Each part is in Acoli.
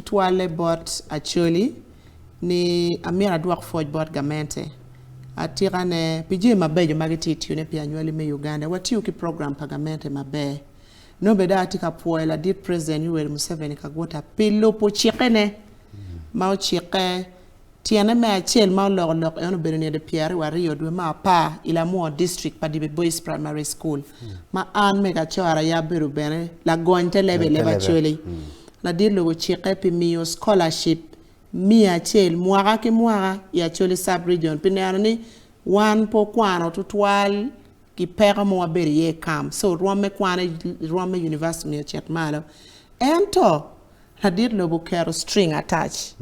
Tutwalle bot Acholi ni amyero adwok pwoc bot gamente atika ne pi jami mabeco ma gitye tiyo ne pi anywali me Uganda. Watiyo ki program pa gamente maber. Nongo bene dong atye ka pwoyo ladit President Yoweri Museveni Kagwota pi lubo cikke ne ma ocikke. Tyene me acel ma oloko lok en obedo nede pyera riyo aryo dwe me apar i Lamwor District pa Dibe Boys Primary School ma an me Gacora ya abedo bene lagony te level leba Acholi. Ladit lok ocikke pi miyo scholarship miya acel mwaka ki mwaka i Acholi Sub Region pi neno ni wan pe okwano tutwal ki peko ma wabedo iye i camp so rwom me kwane rwom me University myero ocit malo. Ento Ladit lobo oketo string attach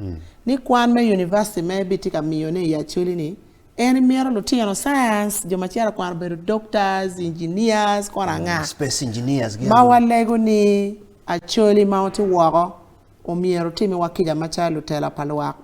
ni kwan me University me bitye ka miyo ne i Acholi ni en imito lutino science jo macito kwano bedo doctors, engineers kore anga. Space engineers gi Ma walego ni Acholi ma ote woko omyero otimi wa kica macalo lutela pa lwak.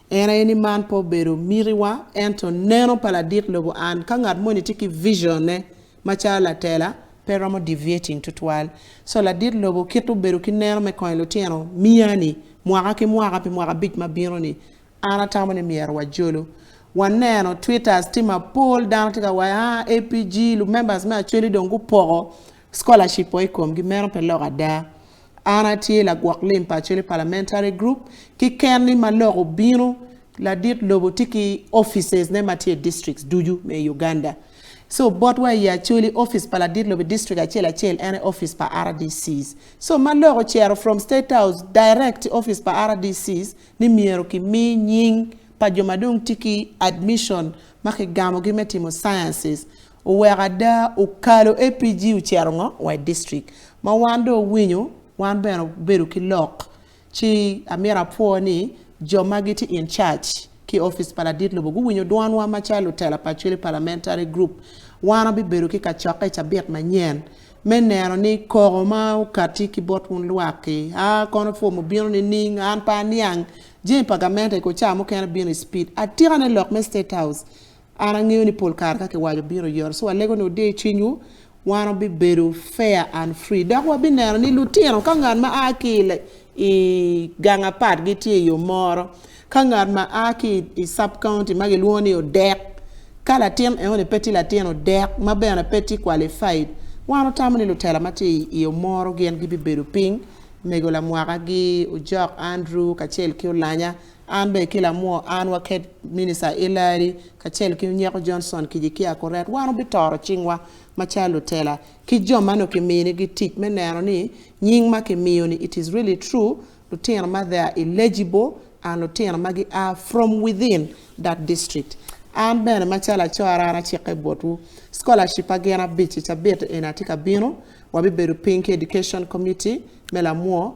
En aye ni man pe obedo miti wa ento neno pa ladit lobo and ka ngat moni tye ki vision ne Macalo latela, pe romo deviating tutwal. So ladit lobo kit obedo ki neno me konyo lutino miya ni mwaka ki mwaka pi mwaka abic ma bino ni. An atamo ni myero wa jolo. Wa neno twitters tye ma pol dano tye ka waco haa APG lu members me Acholi dong gu poko scholarship wa ikom gi. Meno pe lok ada. An atye lagwok lim pa Acholi Parliamentary Group ki ken ni ma lok obino Ladit lobo tye ki offices ne ma tye i districts ducu me i Uganda. So bot wa i Acholi, office pa ladit lobo i district acel acel en aye office pa RDCs. So ma lok ocero from state house direct to office pa RDCs ni myero ki mi nying pa jo ma dong tye ki admission ma ki gamo gi me timo sciences. Oweko ada okalo APG ocero ngo? Wa i district. Ma wan dong owinyo wan bene obedo ki lok. Ci amyero apwo ni jo ma gitye in charge ki opic pa ladit lobo guwinyo dwanwa macalo lutela pa Acholi Parliamentary Group. Wan wabibedo ki kacokke i cabit manyen me neno ni koko ma okatti ki bot wun lwak-ki a kono pwomo bino nining? An pe aniang jami pa gamente i kor ca mukene bino i speed. Atikane lok me State House An angeyo ni pol kare ka kiwaco bino Yeruca alego ni wudiyo cwinywu, wan wabibedo fair and free dok wabineno ni lutino ka ngat ma a ki i gang apat gitye i yo moro ka ngat ma a ki i sub county ma gilwongo ni odek ka latin eoni pe tye latin odek ma bene pe tye qualified wan wutamo ni lutela ma tye i yo moro gin gibibedo piny mego lamwaka gi ojok Andrew kacel ki olanya An bene ki lamwo an waket Minista Hillary kacel ki Nyeko Johnson Kijikia Kuret, wan wubitoro cingwa macalo lutela ki jo ma nongo kiminigi tic me neno ni nying ma kimiyo-ni it is really true, lutino ma they are eligible and lutino ma gia from within that district. An bene macalo acora an acikke botwu, scholarship ma gin abic i cabit eni atye ka bino, wabibedo piny ki Education Committee me lamwo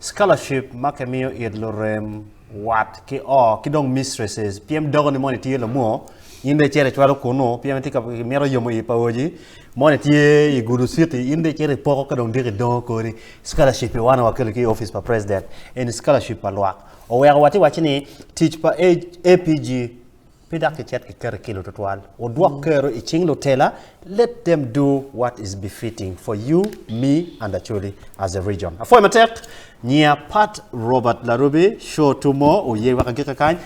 Scholarship ma ke miyo it lurem, wat ki o, ki dong mistresses. Pyem doko ni moni tye lamwo, in dong icito icwalo kunu, pyem itye ka mito yomo i paoji, moni tye i Gulu city, in dong icito ipoko ka dong diki idongo kodi. Scholarship i wana wakelo ki i office pa president, eni scholarship pa lwak. Oweko watye waci ni tic pa APG Pe dok kicit ki keti kilo tutwal odwok kero i cing lutela let them do what is befitting for you, me and Acholi as a region. Apwoyo matek nyiya Pat Robert Larubi, show two more oye wek agike kany.